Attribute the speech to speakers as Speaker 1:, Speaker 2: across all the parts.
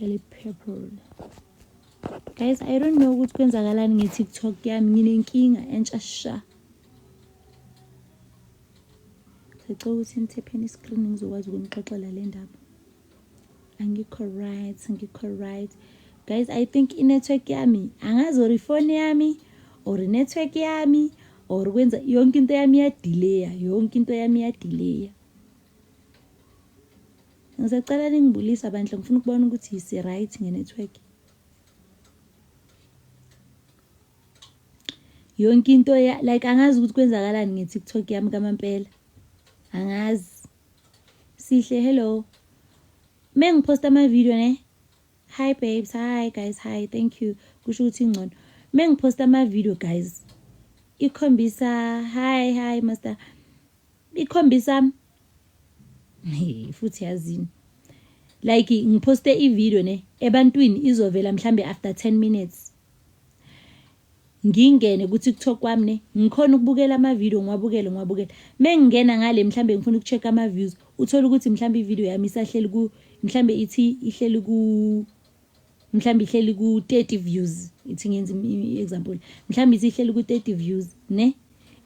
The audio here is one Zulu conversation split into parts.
Speaker 1: Eli purple. Guys, I don't know ukuthi kwenzakalani nge-TikTok yami nginenkinga entsha sha. Sicela ukuthi nithepheni i-screen ngizokwazi ukunixoxela le ndaba. Angikho right, angikho right. Guys, I think i-network yami angazi or ifoni yami or i-network yami or kwenza yonke into yami iyadileya, yonke into yami iyadileya. Ngisacela ningibulisa bandla ngifuna ukubona ukuthi si right ngenetwork. Yonke into ya like angazi ukuthi kwenzakalani ngeTikTok yami kamampela. Angazi. Sihle hello. Mengiposta ama video ne. Hi babes, hi guys, hi. Thank you. Kusho ukuthi ingcono. Mengiposta ama video guys. Ikhombisa hi hi master. ikhombisa futhi yazini like ngiphoste ivideo ne ebantwini izovela mhlambe after 10 minutes ngingene kuthi kuthok kwami ne ngikhona ukubukela amavideo ngiwabukele ngiwabukele mengingena ngale mhlambe ngifuna ukucheck ama views uthola ukuthi mhlambe ivideo yami isahleli ku mhlambe ithi ihleli ku mhlawumbe ihleli ku-30 views ithi ngenza i-example mhlawumbe ithi ihleli ku-30 views ne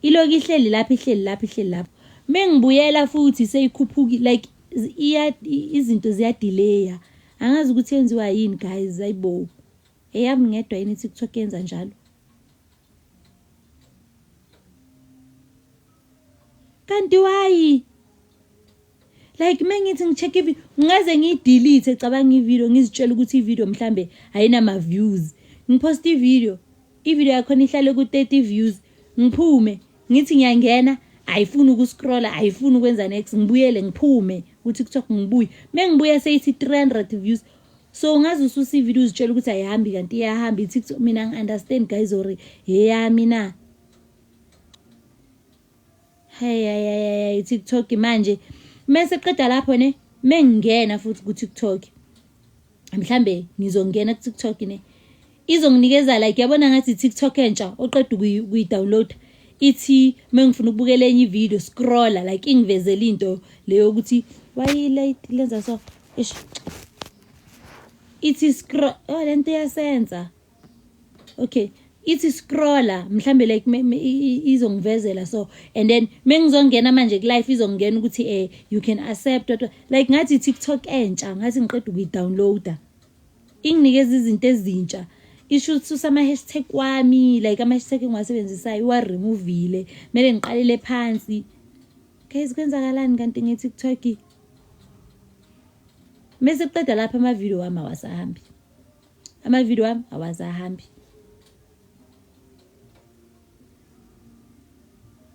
Speaker 1: iloku ihleli lapho ihleli lapho ihleli lapho mengibuyela futhi seyikhuphuki like iya izinto ziyadileya angazi ukuthi yenziwa yini guys ayibo eyami ngedwa yini i-tiktok yenza njalo kanti wayi like uma ngithi ngi-check ivideo ngaze ngiyidelete cabanga ivideo ngizitshela ukuthi ivideo mhlambe ayinama-views ngiphosta ivideo ivideo yakhona ihlale ku-thirty views ngiphume ngithi ngiyangena ayifuni ukuscrolla ayifuni ukwenza nex ngibuyele ngiphume kutiktok ngibuye me ngibuya seyithi three hundred views so ungaze ususa ivideo uzitshela ukuthi ayihambi kanti iyahamba itiktok mina ngi-understand guys or heyami na hayayayayi tiktok manje mese qeda lapho ne mengingena futhi ku-tiktok mhlambe ngizongena ku-tiktok ne izonginikeza like yabona ngathi i-tiktok entsha oqeda ukuyidownloada ithi mengifuna ukubukela enye ivideo scrolla like ingivezela into leyo ukuthi wayilate lenza so ithi scroll oh lento iyasenza okay ithi scroller mhlambe like izongivezela so and then mengizongena manje ku life izongena ukuthi eh you can accept what like ngathi TikTok entsha ngathi ngiqeda ukuyidownloada inginikeza izinto ezintsha isho ukuthi usama hashtag wami like ama hashtag engiwasebenzisayo wa removile mele ngiqalele phansi guys kwenzakalani kanti nge TikTok mese kuqeda lapha ama video wami awasahambi amavidiyo wami awasahambi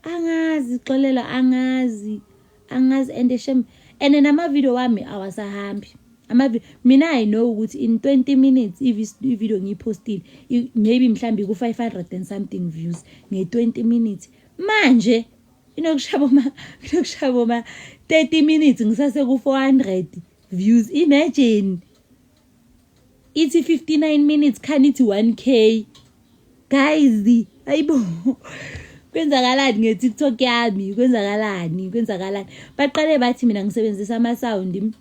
Speaker 1: angazi xolela angazi angazi and shem and namavidiyo wami awasahambi amavidiyo mina i know ukuthi in 20 minutes ividiyo ngiyiphostile maybe mhlawumbe ku-500 and something views nge-20 minutes manje inokushaba uma inokushaba uma 30 minutes ngisase ku 400 views imagine ithi 59 minutes khani ithi 1k guys ayibo kwenzakalani nge-tiktok yami kwenzakalani kwenzakalani baqale bathi mina ngisebenzisa ama-sound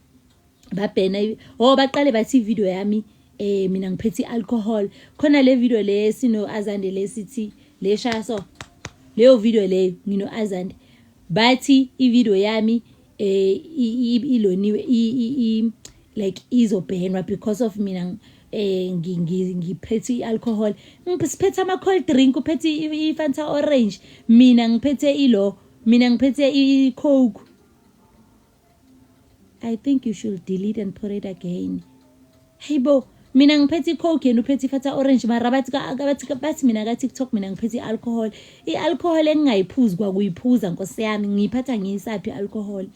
Speaker 1: babhena o oh, baqale bathi ividiyo yami eh mina ngiphethe i-alcohol khona le video le sino-azande le sithi le shaya so leyo video leyo ngino-azande bathi ividiyo yami eh iloniwe i like izobhenwa because of mina eh ngiphethe ialcohol ngiphethe ama cold drink uphethe i Fanta orange mina ngiphethe ilo mina ngiphethe i coke i think you should delete and put it again Hey bo, mina ngiphethe i-coke yena uphethe ifata orange mara bathi ka- ka- bathi ka- bathi mina ka-tiktok mina ngiphethe i-alcohol i-alcohol engingayiphuzi kwakuyiphuza nkosi yami ngiyiphatha ngiyisaphi i-alcohol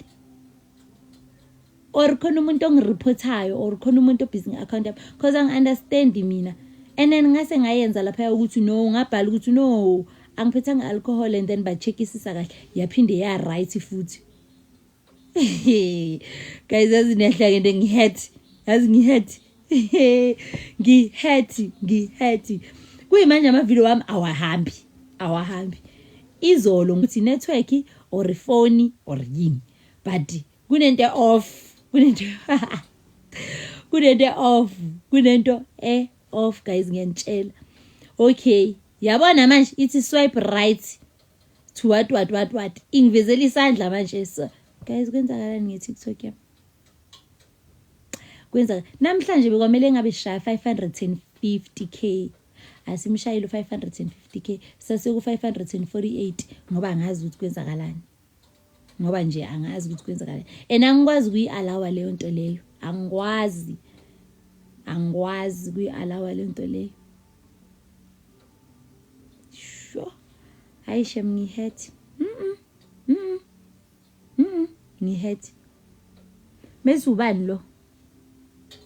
Speaker 1: or khona umuntu ongireportayo or khona umuntu obhizi nge-account yami because angi-understandi mina and then ngase ngayenza laphaya ukuthi no ngabhala ukuthi no angiphethanga i-alcohol and then ba-checkisisa kahle yaphinde ya-right futhi guys yazi niyahlake nto ngihaty yazi ngihaty ngihaty ngihaty kuyimanje amavidiyo wami awahambi awahambi izolo ngithi network or ifoni or yini but kunento off kunento kunento off kunento e off guys ngiyantshela okay yabona manje ithi swipe right to what what what what ingivezela isandla manje so guys kwenzakalani nge-tiktok yam kwenza namhlanje bekwamele ngabe shaya 550 k asimshayile u-550 k saseku-548 ngoba angazi ukuthi kwenzakalani ngoba nje angazi ukuthi kwenzakalani and angikwazi kuyi-alawa leyo nto leyo angikwazi angikwazi kuyi-alawa leyo nto leyo Sho. Hayi shem ngihethi. Mhm. Mhm. Mhm. Ngihethi. Mese ubani lo?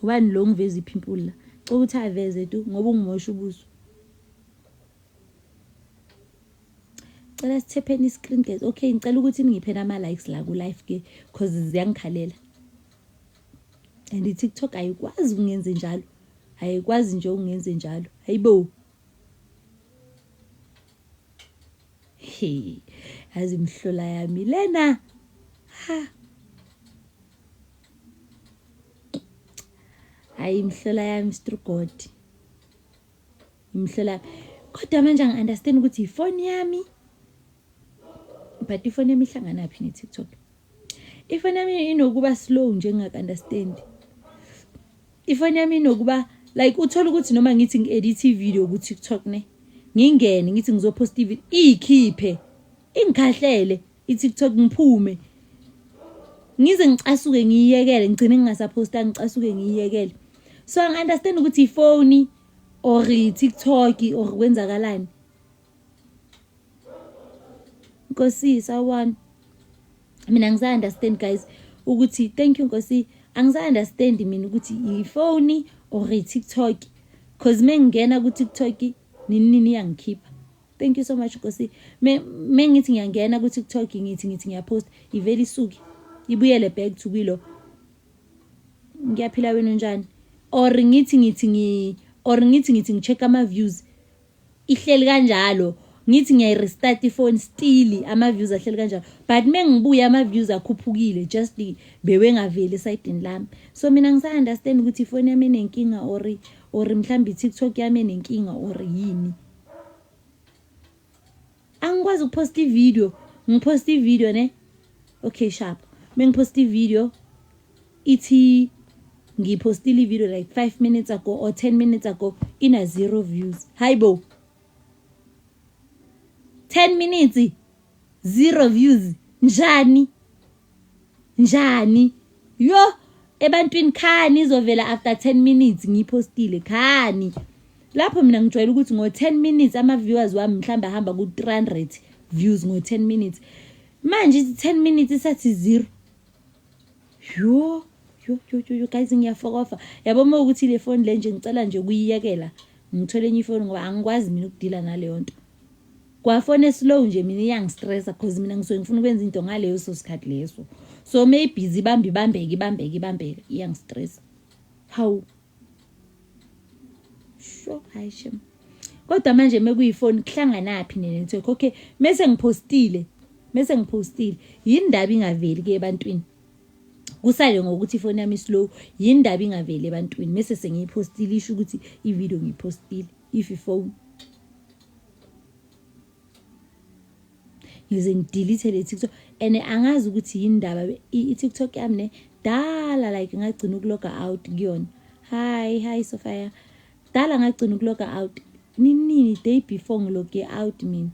Speaker 1: Ubani lo ngiveza iphimpuli la? Cela ukuthi aveze tu ngoba ungimosha ubuso. Cela sithepheni i-screen guys. Okay, ngicela ukuthi ningiphe ama likes la ku live ke because ziyangikhalela. and i-tiktok ayikwazi ukungenze njalo ayikwazi nje ukungenze njalo hayibo hey yazi imhlola yami lena ha hayi imhlola yami strugodi imhlola kodwa manje angi-understand ukuthi ifoni yami but ifoni yami ihlanganaphi ne-tiktok ifoni yami inokuba slow nje ngingaka-understand ifoni yami inokuba like uthole ukuthi noma ngithi ngi-edithe ividiyo ku-tiktok ne ngingene ngithi ngizophosta ividiyo iyikhiphe ingikhahlele i-tiktok ngiphume ngize ngicasuke ngiyiyekele ngigcine ngingasaphosta ngicasuke ngiyiyekele so angi-understand ukuthi ifoni or i-tiktok or kwenzakalani Nkosi sawubona. Mina angisa understand guys ukuthi thank you Nkosi angisa understand mina ukuthi ifoni or TikTok cause mengingena ku TikTok nini nini yangikhipha. Thank you so much Nkosi. Me mengithi ngiyangena ku TikTok ngithi ngithi ngiyapost iveli suki ibuyele back to kilo. Ngiyaphila wena njani? Or ngithi ngithi ngi or ngithi ngithi ngicheck ama views ihleli kanjalo ngithi ngiyayirestart ifoni still ama-views ahleli kanjalo but uma ngibuye ama-views akhuphukile just bewengaveli esayidini lami so mina ngisa-understand ukuthi ifoni yami enenkinga or or mhlawumbe i-tiktok yami enenkinga or yini angikwazi ukuphosta ividiyo ngiphosta ividiyo ne okay sharp uma ngiphosta ividiyo ithi ngiphostile ividiyo like five minutes ago or ten minutes ago ina zero views hayi bo ten minutes zero views njani njani yo ebantwini khani izovela after 10 minutes ngiyipostile khani lapho mina ngijwayele ukuthi ngo-10 minutes ama-viewers wami mhlawumbe ahamba ku-300 views ngo-10 minutes manje ithi-10 minutes isathi zero yo yo yo yo, yo guys ngiyafokofa yabo uma ukuthi le foni le nje ngicela nje ukuyiyekela ngithole enye ifoni ngoba angikwazi mina ukudila naleyo nto kwafona slow nje mina iyangistressa cause mina ngisuke ngifuna ukwenza into ngaleyo so sikhathi leso so mayibhizi ibambe ibambeke ibambeke ibambeke iyangistressa hawu sho hayi shem kodwa manje mekuyifoni kuhlanganaphi nene nithe okay mese ngipostile mese ngipostile yini ndaba ingaveli ke ebantwini kusale ngokuthi ifoni yami slow yindaba ingaveli ebantwini mese sengiyiphostile isho ukuthi ivideo ngiyiphostile if ifoni ngize ngidelete le TikTok and angazi ukuthi yindaba i-TikTok yami ne dala like ngagcina ukuloga out kuyona hi hi Sophia dala ngagcina ukuloga out nini day before ngiloge out mina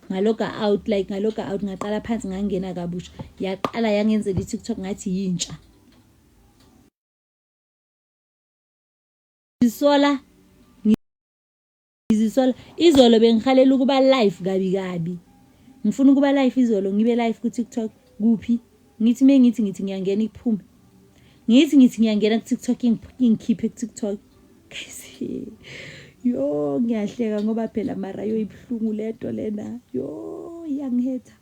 Speaker 1: ngaloga out like ngaloga out ngaqala phansi ngangena kabusha yaqala yangenzela i-tiktok ngathi yintsha ngizisola ngizisola izolo bengihalela ukuba live kabi kabi ngifuna ukuba live izolo ngibe live ku-tiktok kuphi Ngithi me ngithi ngithi ngiyangena iphume. Ngithi ngithi ngiyangena ku TikTok ingikhiphe ku TikTok. Yo ngiyahleka ngoba phela mara yo ibuhlungu lento lena. Yo iyangihetha.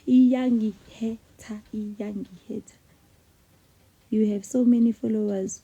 Speaker 1: Iyangihetha iyangihetha. You have so many followers.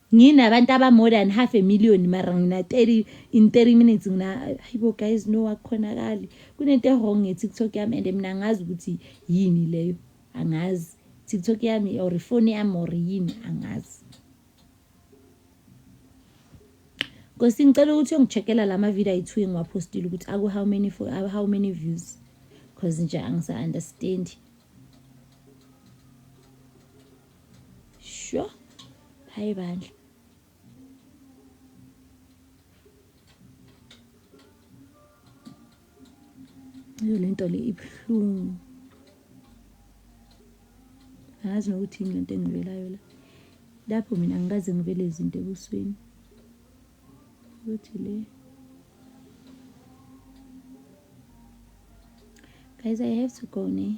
Speaker 1: Nginabantu aba more than half a million mara ngina 30 in 30 minutes ngina hayibo guys no akukhonakali. Kunento ewrong nge TikTok yami and mina angazi ukuthi yini leyo. Angazi. TikTok yami or ifoni yami or yini angazi. Nkosi ngicela ukuthi ungicheckela lama video ayi2 engiwapostile ukuthi aku how many for how many views because nje angisa understand. Sho. Hayi bandla. Yo lento le ibuhlungu. Ngazi nokuthi yini lento engibelayo la. Lapho mina ngikaze ngibele izinto ebusweni. Ukuthi le Guys, I have to go now.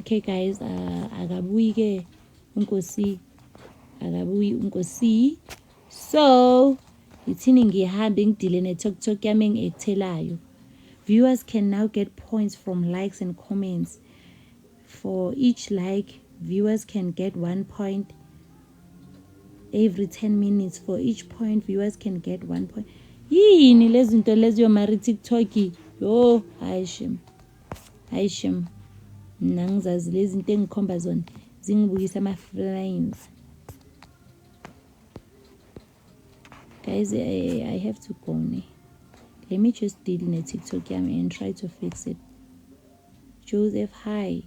Speaker 1: okay guys uh, akabuyi ke unkosi akabuyi unkosi so ngithini ngihambe ngidile netoktok yami engiyethelayo viewers can now get points from likes and comments for each like viewers can get one point every 10 minutes for each point viewers can get one point yini lezinto leziyo mari tiktok yo hayi shema hayi shem mna ngizazi lezi nto engikhomba zona zingibukisa ama-flames guys I, i have to go ne let me just deal ne-tiktok yami and try to fix it joseph hi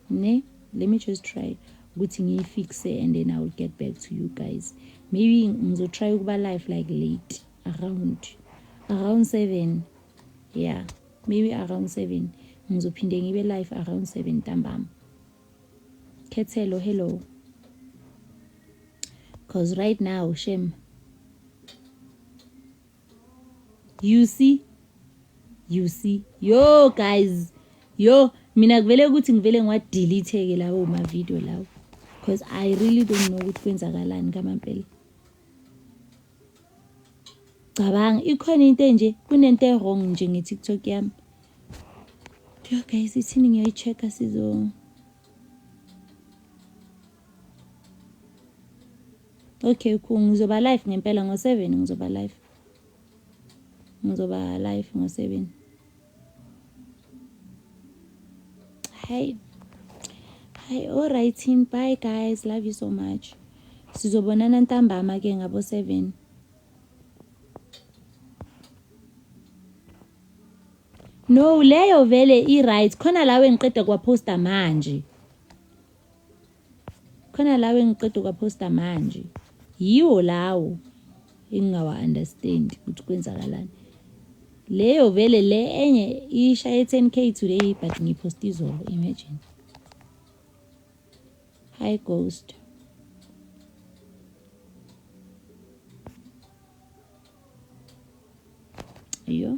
Speaker 1: ne let me just try ukuthi ngiyifixe and then i will get back to you guys maybe ngizotry ukuba life like late around around seven yeah maybe around seven ngizophinde ngibe life around seven ntambama khethelo hello because right now shem you see you see yo guys yo mina kuvele ukuthi ngivele ngiwadelete-ke lawo mavidiyo lawo because i really don't know ukuthi kwenzakalani kamampela cabanga ikhona into enje kunento e-wrong nje nge-tiktok yami yo guys ithini ngiyoyi-check-a sizo Okay, cool. Ngizoba live ngempela ngo 7 ngizoba live. Ngizoba live ngo 7. Hi. Hi, all right, team. Bye guys. Love you so much. Sizobonana ntambama ke ngabo 7. No, leyo vele i right. Khona lawe ngiqeda kwa poster manje. khona lawo engiqeda ukwaphosta manje yiwo lawo engingawa-understand ukuthi kwenzakalani leyo vele le enye ishaye 10 k today but ngiyiphosta izolo imagine hi ghost yo